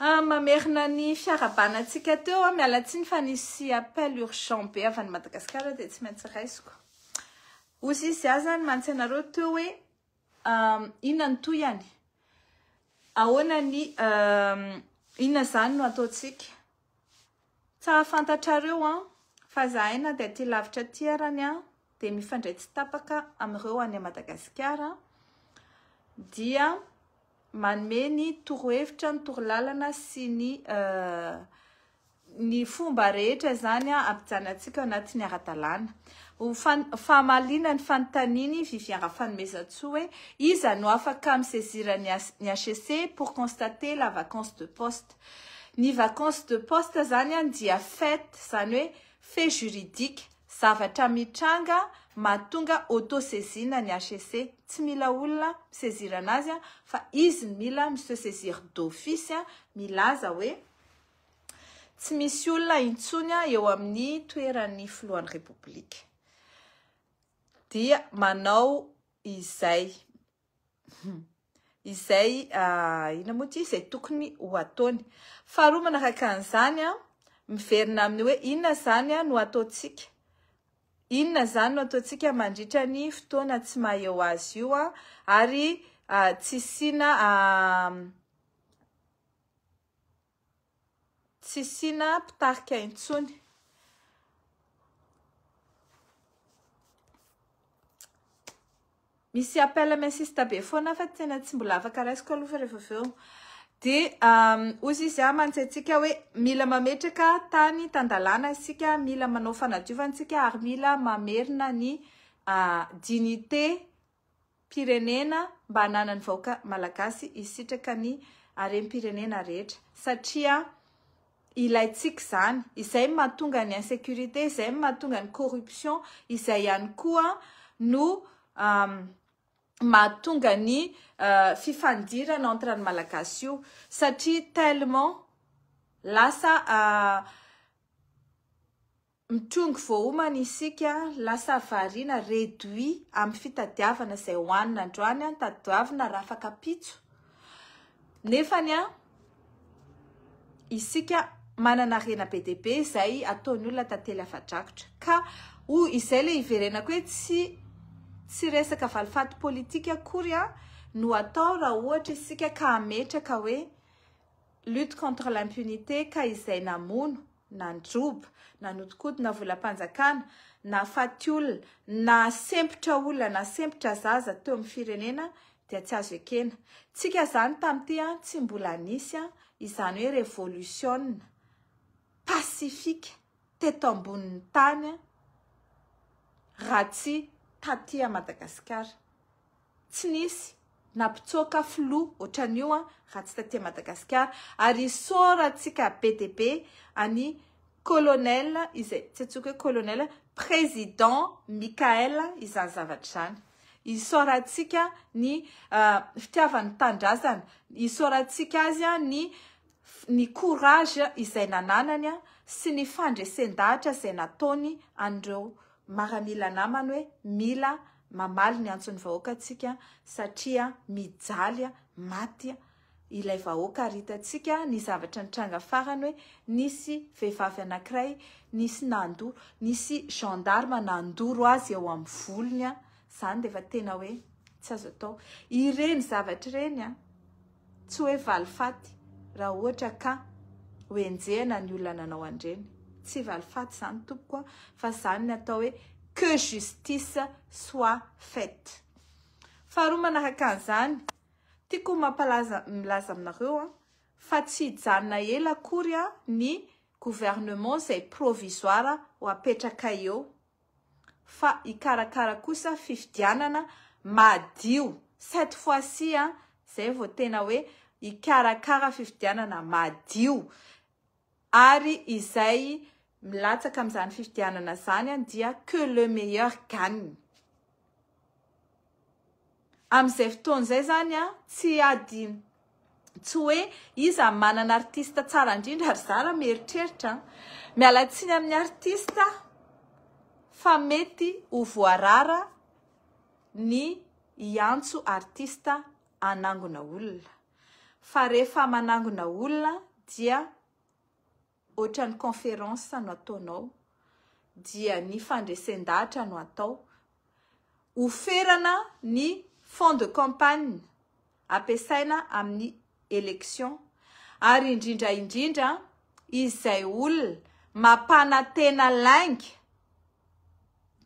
Ah, mamerina ny fiarahabana antsika teo ah, miala tsiny fa nisy appel urgent be avy any Madagasikara dia tsy maintsy raisiko. Ozy izy aho zany mantsy anareo teo hoe um, inona ny tohiny, ahoana ny um, inona zany no ataontsika. Tsara fantatrareo an, fa zahay na dia aty lavitra aty arany an, dia mifandray tsy tapaka amin'ireo any Madagasikara, dia manome ny torohevitra, ny torolalana sy ny ny fomba rehetra izany an hampijanonantsika ao anatin'ny ara-dalàna. Ho famaliana ny fanontanian'i Vivien Rafanomezantsoa hoe iza no afaka mi-saisir ny HCC pour constater la vacance de poste? Ny vacance de poste zany an dia fait zany hoe fait juridique, zavatra mitranga mahatonga auto saisine ny HCC, tsy mila olona mi-saisir anazy an fa izy no mila mi-se saisir d'office an milaza hoe tsy misy olona intsony an eo amin'ny toeran'ny filohan'ny repoblika dia manao izay izay inona moa ity izay tokony ho ataony. Faharoa manaraka an'izany, miverina amin'ny hoe inona izany no ataontsika, inona izany no ataontsika mandritra ny fotoana tsy maha eo azy io ary tsy hisiana Tsy sina mpitarika intsony. Misy appel mi assiste be foana fa tena tsy mbola afaka raisiko aloha fa rehefa avy eo. Dia hozy izy aho mantsy antsika hoe mila mametraka tany tan-dalàna isika, mila manao fanadiovana isika ary mila mamerina ny dignité pirenena mba hananany vahoaka malagasy hisitraka ny harem pirenena rehetra satria ilaintsika izany izay mahatonga ny insecurite izay mahatonga ny corruption izay ihany koa no mahatonga ny fifandirana entre ny malagasy io satria tellement lasa Mitrongy voaomana isika, lasa variana, réduit, amin'ny fitadiavana izay hohanina androany, tadiavina rafak'ampitso, nefany isika manana harena be dia be izay ataon'ny olona tantely afa-drakotra. Ka hoy izay ilay hiverenako hoe tsy tsy resaka valifaty politika akory no atao raha ohatra isika ka hametraka hoe lutte contre l'impunité ka izay namono na ny joba, na nodinkodina volam-panjakana, na faty olona, na sempotra olona, na sempotra zaza teo amin'ny firenena dia tsy azo ekena. Tsika izany tamin'ity tsy mbola nisy izany hoe revolisiona pasifika teto ambonin'ny tany raha tsy taty Madagasikara. Tsy nisy na mpitsoaka filoha otran'io an raha tsy taty Madagasikara ary isaorantsika be dia be an'i Colonel izay tsy antsoiko hoe Colonel Président Michael izany zavatra izany. Isaorantsika ny fitiavany ny tanindrazana, isaorantsika azy ny ny courage izay nananany an sy ny fandresen-dahatra izay nataony an'ireo maramila namany hoe mila Mamaly ny antson'ny vahoaka tsika satria mijaly maty ilay vahoaka ary hitantsika ny zavatra nitranga farany hoe nisy vehivavy anankiray nisy nandoro, nisy gendarme nandoro azy eo amin'ny volony, izany dia efa tena hoe tsy azo atao. Ireny zavatra ireny an! Tsy hoe valifaty raha ohatra ka ho enjehina ny olona nanao an'ireny. Tsy valifaty izany tompoko a! Fa izany ny atao hoe que justice soit faite. Faharoa manaraka an'izany, tiako ho mampalaza milaza aminareo a, fa tsy hijanona ela akory ny gouvernement izay provisoire ho apetraka eo. fa hikarakara kosa fifidianana madio cette fois ci an, zay vao tena hoe hikarakara fifidianana madio ary izay milatsaka amin'izany fifidianana izany dia que le meilleur gagne. Amin'izay fotoana izay izany an, tsy ady tsy hoe iza manana artiste tsara indrindra ry zala mieritreritra an. Miala tsiny amin'ny artiste fa mety ho voarara ny hiantso artiste hanangona olona. Fa rehefa manangona olona dia Ohatran'ny conférence no ataonao dia ny fandresen-dahatra no atao, ho ferana ny fonds de campagne ampiasaina amin'ny élection ary indrindra indrindra izay olona mampanantena lainga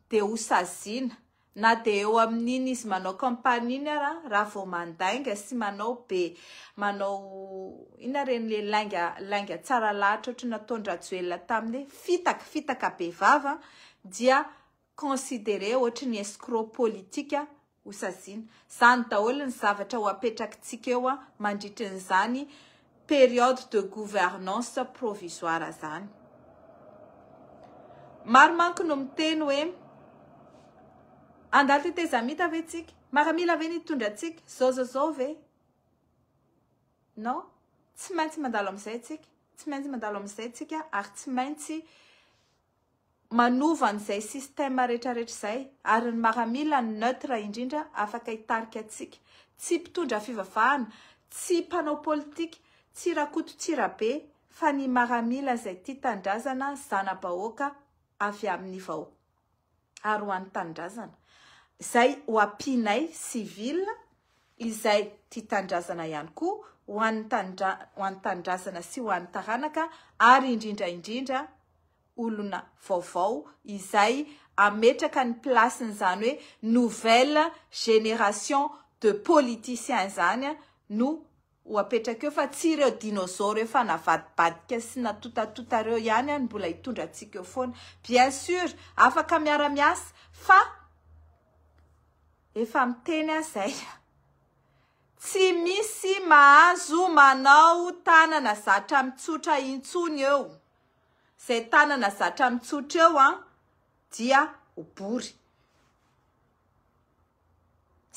dia ho saziana Na dia eo amin'iny izy manao campagne iny ara, raha vao mandainga sy manao be, manao inona ireny le lainga lainga tsara lahatra ohatry ny nataon-dRajoelina taminy hoe fitaka, fitaka be vava dia considerer ohatry ny escroc politique hosaziana. Izany daholo ny zavatra ho apetrakitsika eo mandritry ny izany période de gouvernance provisoire izany. Maro manko no miteny hoe andalo tetezamita ve tsika? Maramila ve ny hitondra antsika? Zao zao zao ve? Non, tsy maintsy mandalo amin'izay tsika, tsy maintsy mandalo amin'izay tsika ary tsy maintsy manova an'izay système retraretra izay ary ny maramila no neutre indrindra afaka hitarika antsika, tsy mpitondra fivavahana, tsy mpanao politika, tsy Rakoto tsy Rabe fa ny maramila izay tia tanindrazana zana-bahoaka avy amin'ny vahoaka. ary ho an'ny tanindrazana izay ho ampianay civil izay tia tanindrazana ihany koa ho an'ny ho an'ny tanindrazana sy ho an'ny taranaka ary indrindra indrindra olona vaovao izay ametraka ny place n'izany hoe nouvelle génération de politiciens izany no ho apetraka eo fa tsy ireo dinosaures efa navadibadika sy natotatota ireo ihany any mbola hitondra antsika eo foana. Bien sur, afaka miara miasa fa efa miteny aho zay a! Tsy misy mahazo manao tanana zatra mitsotra intsony eo, zay tanana zatra mitsotra eo an dia ho bory.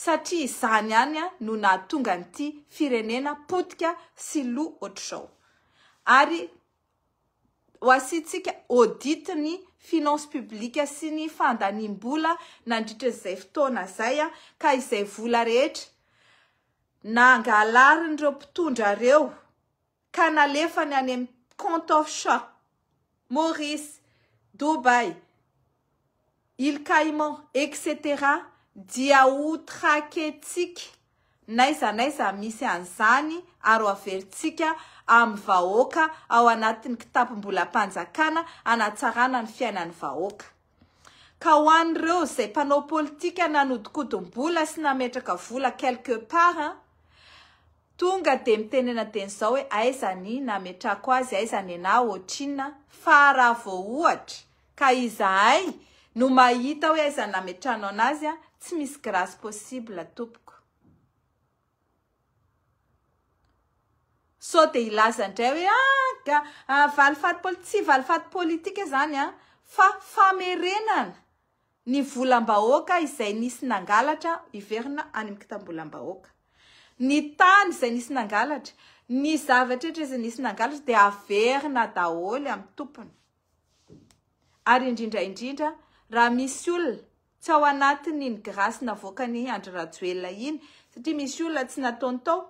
satria izany ihany no nahatonga an'ity firenena potika sy lo ohatr'izao. Ary ho asiantsika audit ny finance publique sy ny fandaniam-bola nandritra izay fotoana izay ka izay vola rehetra nangalarin'ireo mpitondra ireo, ka nalefany any amin'ny compte offshore, Maurice, Dubaï, Îles Caïmans, etc. Dia ho traquer-tsika n'aiza n'aiza misy an'izany ary ho averintsika amin'ny vahoaka ao anatin'ny kitapom-bolam-panjakana hanatsarana ny fiainan'ny vahoaka. Ka ho an'ireo izay mpanao politika nanodinkodimbola sy nametraka vola quelque part an, tonga dia mitenena teny izao hoe aiza ny nametrako azy, aiza nenah, otrinona, fa raha vao ohatra ka izahay no mahita hoe aiza ny nametrahanao anazy an, tsy misy grâce possible tompoko. Sao dia hilaza indray hoe ah ah valifaty politika, tsy valifaty politika izany an! fa famerenana ny volam-bahoaka izay nisy nangalatra hiverina any amin'ny kitam-bolam-bahoaka. Ny tany izay nisy nangalatra, ny zavatra rehetra izay nisy nangalatra dia haverina daholo amin'ny tompony. Ary indrindra indrindra raha misy olona Tsy ao anatiny iny grâce navoakany Andry Rajoelina iny satria misy olona tsy nataony tao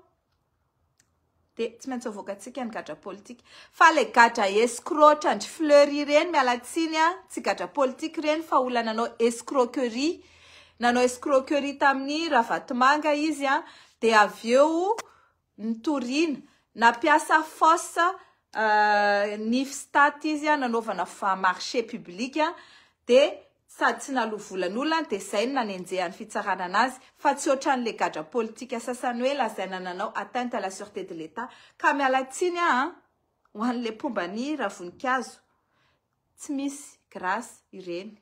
de tsy maintsy avoakantsika ny gadra politika fa le gadra escroc ohatrandry fleury ireny miala tsiny a tsy gadra politika ireny fa olona nanao escroquerie nanao escroquerie tamin'ny ravatomanga izy a de avy eo nitoriana, nampiasa fausse nify stat izy nanaovana marche public dia sady tsy naloa vola ny olona dia izay no nanenjehan'ny fitsarana anazy fa tsy otran'ilay gadra politika sasany hoe lazaina nanao atteinte à la sureté de l'Etat ka miala tsiny aho an! ho an'ilay mpomba an'i Ravoninkazo tsy misy grâce ireny.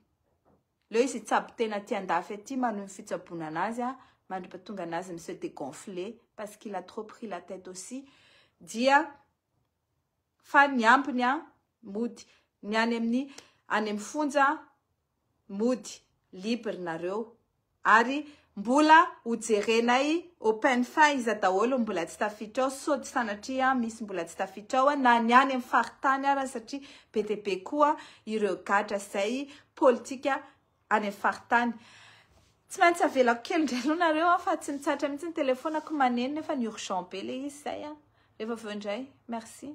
Leo izy hitsabo tena aty andafy aty manohy ny fitsaboana anazy a, mandripatonga anazy mi se degonfler parce qu'il a trop pris la tête aussi dia fa ny ambiny a mody, ny any amin'ny any amin'ny fonja mody, libre nareo ary Mbola ho jerenay open fa iza daholo no mbola tsy tafiditra ao sao tsy sanatria misy mbola tsy tafiditra ao na ny any amin'ny faritany ara satria be dia be koa ireo gadra izay politika any amin'ny faritany. Tsy maintsy avelako kely indray aloha nareo an fa tsy mitsahatra mihitsy ny telefonako maneno nefa ny urgent be ilay izy izay an. Rehefa avy eo indray. Merci.